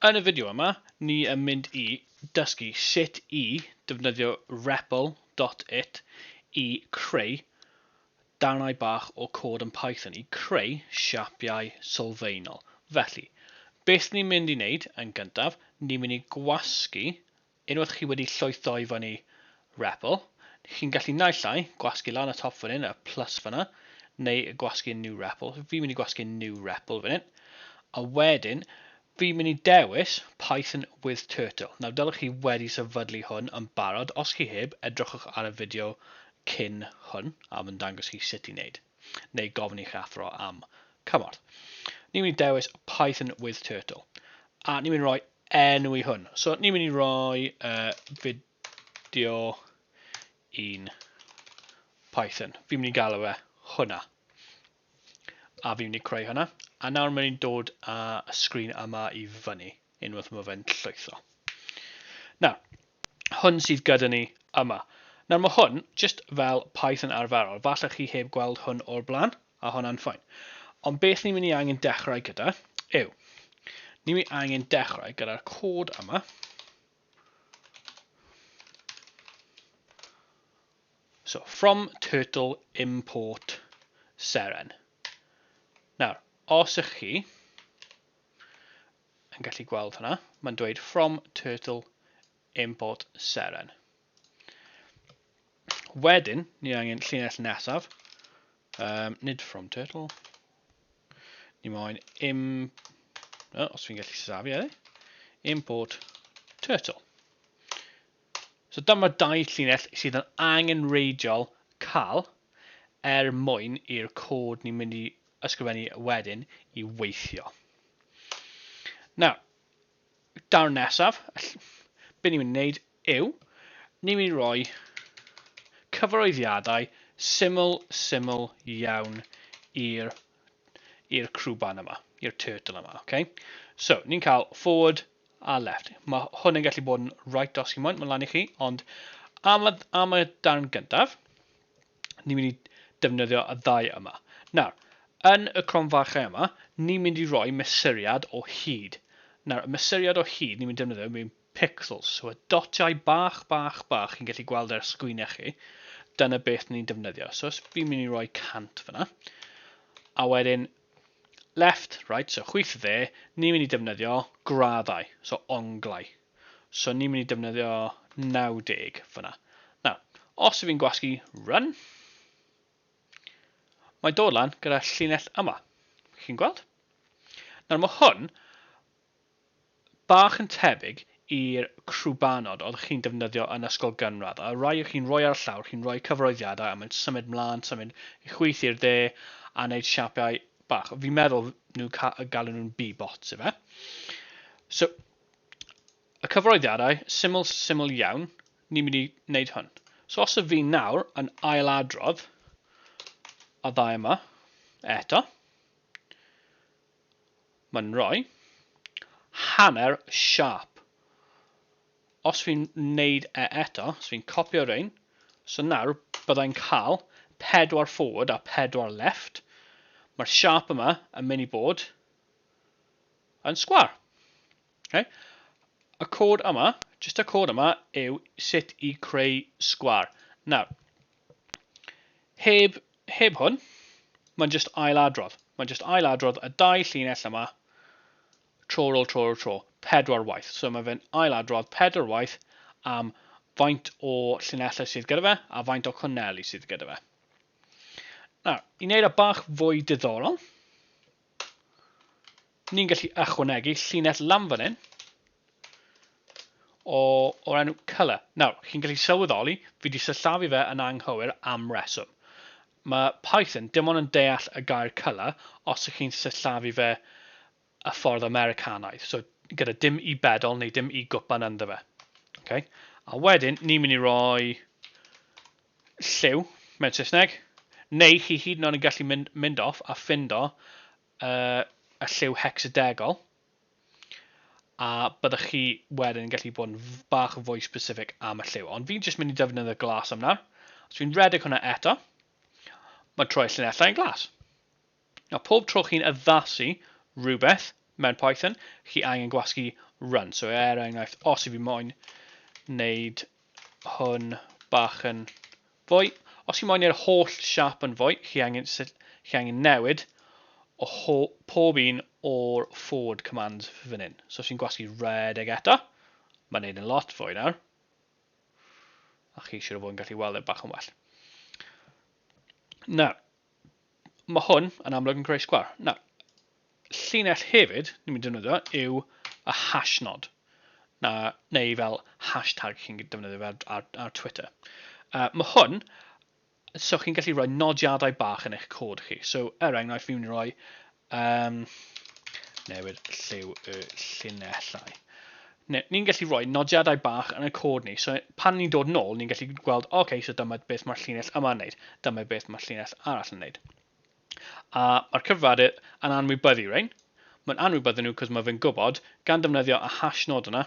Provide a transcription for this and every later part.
Yn y fideo yma, ni yn mynd i dysgu sut i defnyddio repl dot it i creu darnau bach o cod yn Python i creu siapiau sylfaenol. Felly, beth ni'n mynd i wneud yn gyntaf, ni'n mynd i gwasgu Unwaith chi wedi llwytho i fyny REPL, chi'n gallu naill ai gwasgu lan y top fan hyn, y plus fanna, neu gwasgu New REPL. Fi'n mynd i gwasgu New REPL fan hyn. A wedyn, fi'n mynd i dewis Python with Turtle. Nawr, dylech chi wedi sefydlu hwn yn barod. Os chi heb, edrychwch ar y fideo cyn hwn, a mae'n dangos chi sut i wneud. neu gofyn i'ch athro am cymorth. Ni'n mynd i dewis Python with Turtle. A ni'n mynd i roi enw i hwn. So ni'n mynd i roi uh, fideo i'n Python. Fi'n mynd i galw fe hwnna. A fi'n mynd i creu hwnna. A nawr mae'n i'n dod â y sgrin yma i fyny. Unwaith mae fe'n llwytho. Nawr, hwn sydd gyda ni yma. Nawr mae hwn jyst fel Python arferol. Falle chi heb gweld hwn o'r blaen, a hwnna'n ffain. Ond beth ni'n mynd i angen dechrau gyda yw, ni'n mynd i angen dechrau gyda'r cod yma. So, from turtle import seren. Nawr, os ych chi yn gallu gweld hwnna. Mae'n dweud from turtle import seren. Wedyn, ni angen llinell nesaf. Um, nid from turtle. Ni moyn im... Oh, os fi'n gallu safi ar e. Import turtle. So dyma dau llinell sydd yn angen reidiol cael er mwyn i'r cod ni'n mynd i ysgrifennu wedyn i weithio. Nawr, darn nesaf, be ni'n mynd i wneud yw, ni'n mynd i roi cyfarwyddiadau syml, syml iawn i'r i'r crwban yma, i'r turtle yma, okay? So, ni'n cael forward a left. Mae hwn yn gallu bod yn right os chi moyn, mae'n lan i chi, ond am y, am y darn gyntaf, ni'n mynd i defnyddio y ddau yma. Nawr, yn y cronfarchau yma, ni'n mynd i roi mesuriad o hyd. Nawr, y mesuriad o hyd ni'n mynd i defnyddio yw pixels, so y dotiau bach, bach, bach chi'n gallu gweld ar sgwynau chi, dyna beth ni'n defnyddio. So os fi'n mynd i roi 100 fyna, a wedyn left, right, so chwyth dde, ni'n mynd i defnyddio graddau, so onglau. So ni'n mynd i defnyddio 90 fyna. Nawr, os ydw i'n gwasgu run, mae dod lan gyda llinell yma. Chi'n gweld? Nawr mae hwn bach yn tebyg i'r crwbanod oedd chi'n defnyddio yn ysgol gynradd. A rai o chi'n rhoi ar y llawr, chi'n rhoi cyfroeddiadau a mae'n symud mlaen, symud i chwyth i'r dde a wneud siapiau bach. Fi'n meddwl nhw galw nhw'n b-bots, efe? So, y cyfarwyddiadau syml syml iawn, ni'n mynd i wneud hwn. So os y fi nawr yn ailadrodd a ddau yma, eto, mae'n rhoi hanner siarp. Os fi'n wneud e eto, os fi'n copio rhain, so nawr byddai'n cael pedwar forward a pedwar left. Mae'r siarp yma yn mynd i bod yn sgwâr. Okay? Y cod yma, jyst y cod yma, yw sut i creu sgwâr. Nawr, heb, heb hwn, mae'n jyst ailadrodd. Mae'n jyst ailadrodd y dau llinell yma, tro ar ôl tro ar ôl tro, pedwar waith. So mae fe'n ailadrodd pedwar waith am faint o llinellau sydd gyda fe a faint o cwnneli sydd gyda fe. Nawr, i wneud y e bach fwy diddorol, ni'n gallu ychwanegu llinell lam fan hyn o, o'r enw colour. Nawr, chi'n gallu sylweddoli, fi wedi sillafu fe yn anghywir am reswm. Mae Python dim ond yn deall y gair colour os ych chi'n sillafu fe y ffordd Americanaidd, so gyda dim i bedol neu dim i gwpan ynddo fe. Okay? A wedyn, ni'n mynd i roi Lliw, mewn Saesneg. Neu chi hyd yn oed yn gallu mynd, mynd off a ffindo uh, y lliw hecsadegol. A byddwch chi wedyn yn gallu bod yn bach yn fwy specific am y lliw. Ond fi'n jyst mynd i defnyddio'r glas am nawr. Os fi'n redeg hwnna eto, mae'n troi llinellau yn glas. Nawr pob tro chi'n addasu rhywbeth mewn Python, chi angen gwasgu run. So er enghraifft, os i fi moyn wneud hwn bach yn fwy, os chi moyn neu'r holl siap yn fwy, chi angen, chi angen newid o ho, pob un o'r forward commands fan hyn. So os chi'n gwasgu redeg eto, mae'n neud yn lot fwy nawr. A chi eisiau fod yn gallu weld e bach yn well. Nawr, Mae hwn yn amlwg yn creu sgwâr. Nawr, llinell hefyd, ni'n mynd i ddefnyddio, yw y hash nod. Na, neu fel hashtag chi'n defnyddio ar, ar, ar Twitter. Uh, mae hwn, so chi'n gallu rhoi nodiadau bach yn eich cod chi. So, er enghraifft, fi'n rhoi Um, newid lliw y llinellau. Ni'n gallu rhoi nodiadau bach yn y cod ni. So pan ni'n dod nôl, ni'n gallu gweld, oce, okay, so dyma beth mae'r llinell yma'n wneud, dyma beth mae'r llinell arall yn wneud. A mae'r cyfradydd yn anwybyddu rhain. Mae'n anwybyddu nhw cos mae fe'n gwybod, gan defnyddio y hash nod yna,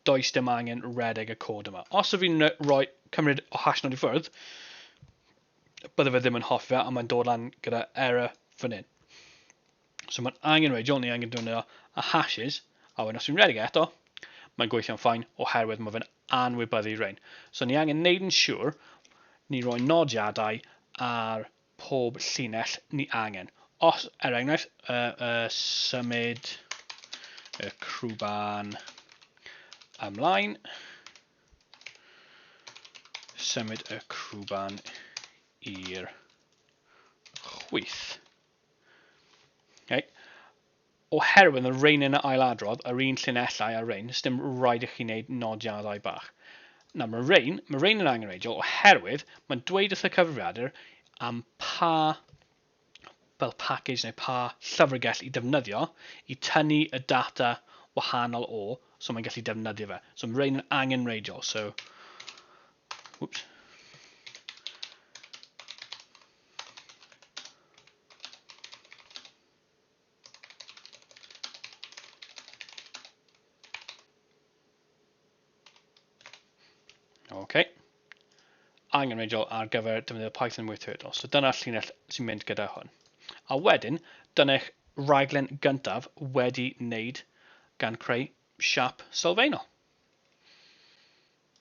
does dim angen redeg y cod yma. Os ydw i'n rhoi cymryd o hash nod i ffwrdd, bydde fe ddim yn hoffi fe, ond mae'n dod lan gyda error fan hyn. So mae'n angen radial, ni angen dwyn a hashes, a wedyn os dwi'n redeg eto, mae'n gweithio'n ffain oherwydd mae fe'n anwybyddu rhain. So ni angen neud yn siŵr ni roi nodiadau ar pob llinell ni angen. Os, er enghraifft, y, y symud y crwban ymlaen, Symud y crwban i'r chwyth. Okay. Oherwydd y rein yn y ailadrodd, yr un llinellau a'r rein, sdim rhaid i chi wneud nodiadau bach. Nawr, mae rein, mae rein yn angenreidiol oherwydd mae'n dweud wrth y cyfrifiadur am pa fel package neu pa llyfrgell i defnyddio i tynnu y data wahanol o, so mae'n gallu defnyddio fe. So mae rhain yn angenreidiol, so, whoops. OK. Angenrheidiol ar gyfer defnyddio Python weithredol. So dyna'r llinell sy'n mynd gyda hwn. A wedyn, dyne'ch rhaglen gyntaf wedi wneud gan creu siap sylfaenol.